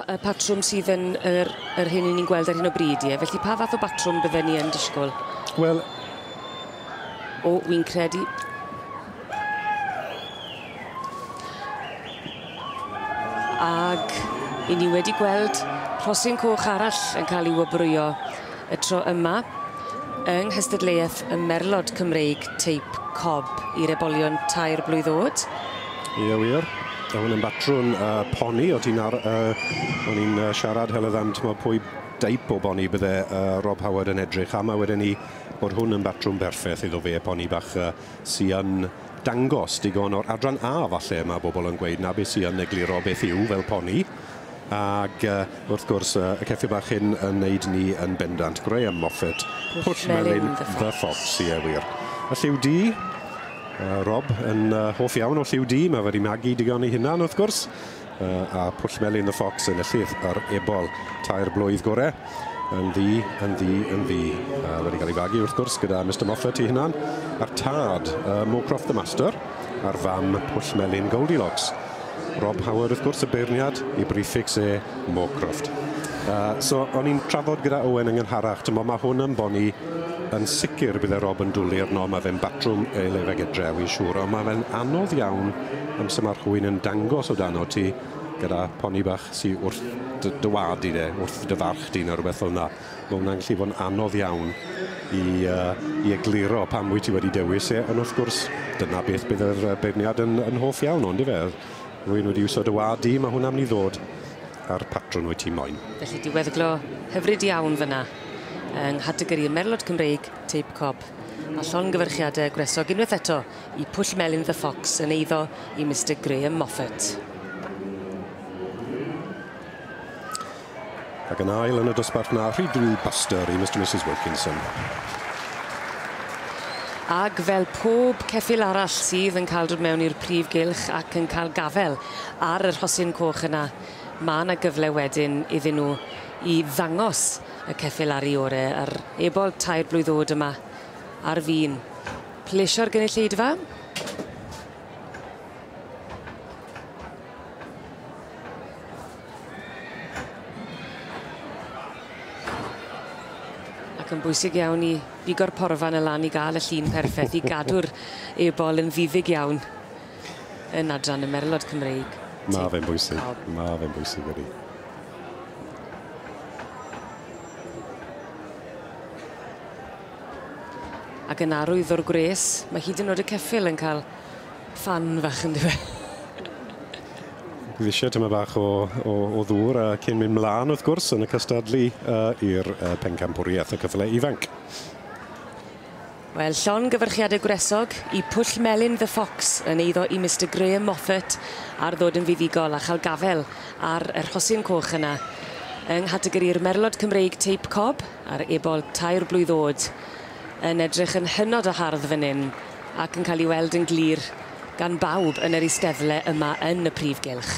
y patrwm sydd yn yr, yr hyn ni'n gweld ar hyn o bryd, ie. Felly pa fath o batrwm bydden ni yn disgwyl? Wel... O, wy'n credu... Ag i ni wedi gweld rhosyn coch arall yn cael ei wobrwyo y tro yma yng nghystadleuaeth y merlod Cymreig teip cob i'r ebolion tair blwydd oed. Ie wir, a hwn yn batrwn uh, poni, o ti'n ar... Uh, o'n i'n uh, siarad heledd am tyma, pwy deip o boni bydde uh, Rob Howard yn edrych am, a wedyn ni bod hwn yn batrwm berffaith iddo fe, poni bach uh, sy'n dangos digon o'r adran A falle, mae bobl yn gweud na beth sy'n egluro beth yw fel poni. Ac wrth gwrs y ceffyl bach hyn yn neud ni yn bendant. Graham Moffett, Pwll Melyn The Fox, ie wir. A lliw du? Rob yn hoff iawn o lliw du, mae wedi magu digon ei hunan wrth gwrs. A Pwll Melyn The Fox yn y llyth ar ebol. Tair blwydd gore. yn ddu, yn ddu, yn ddu. A wedi cael ei fagu, wrth gwrs, gyda Mr Moffat i hunan, a'r tad, uh, Mowcroft the Master, a'r fam, Pwll Melin Goldilocks. Rob Howard, wrth gwrs, y beirniad, i briffix e, Mowcroft. Uh, so, o'n i'n trafod gyda Owen yn ngynharach, tymo, mae hwn yn boni yn sicr bydde Rob yn dwlu arno, mae fe'n batrwm ei lefeg edrew i'n siŵr, ond mae fe'n anodd iawn amser mae'r hwy'n yn dangos o dan o ti, gyda poni bach sy wrth dy, dy wad di de, wrth dy farch di neu rhywbeth fel yna. Mae hwnna'n gallu bod yn anodd iawn i, uh, i egluro pam wyt ti wedi dewis e, ond wrth gwrs, dyna beth bydd yr beirniad yn, yn hoff iawn ond i fe. Rwy'n wedi iwsio dy wad di, mae hwnna'n mynd i ddod a'r patrwn wyt ti moyn. Felly diweddglo hyfryd iawn fyna yng nghategori y merlod Cymreig Teip Cob a llongyfarchiadau gwresog unwaith eto Y Pwll Melyn The Fox yn eiddo i Mister Graham Moffat. Ac yn ail yn y dosbarth na Rhydw Buster i Mister Misus Wilkinson. Ac fel pob ceffyl arall sydd yn cael dod mewn i'r prif gylch ac yn cael gafel ar y rhosyn coch yna, mae yna gyfle wedyn iddyn nhw i ddangos y ceffyl ar ei orau, a'r ebol tair blwydd oed yma ar fin Plesio'r gynulleidfa. Ac yn bwysig iawn i bigo'r porfa yn y lan i gael y llun perffaith i gadw'r ebol yn ddiddug iawn yn adran y merlod Cymreig. Mae fe'n bwysig, mae fe'n bwysig ydy. Ac yn arwyddo'r gwres, mae hyd yn o'd y ceffyl yn cael ffan fach ynddo fe. Bydd eisiau tamaid bach o, o, o ddŵr a cyn mynd mlaen, wrth gwrs, yn y cystadlu uh, i'r uh, pencampwriaeth y cyfle ifanc. Wel, llon gyfyrchiadau gwresog i Pwll Melin The Fox yn eiddo i Mr Graham Moffat ar ddod yn fuddugol a chael gafel ar y rhosyn coch yna. Yng nghategori'r merlod Cymreig teip cob, Ar ebol tair blwydd o'd, yn edrych yn hynod o hardd fan 'yn, ac yn cael ei weld yn glir gan bawb yn yr eisteddle yma yn y prif gylch.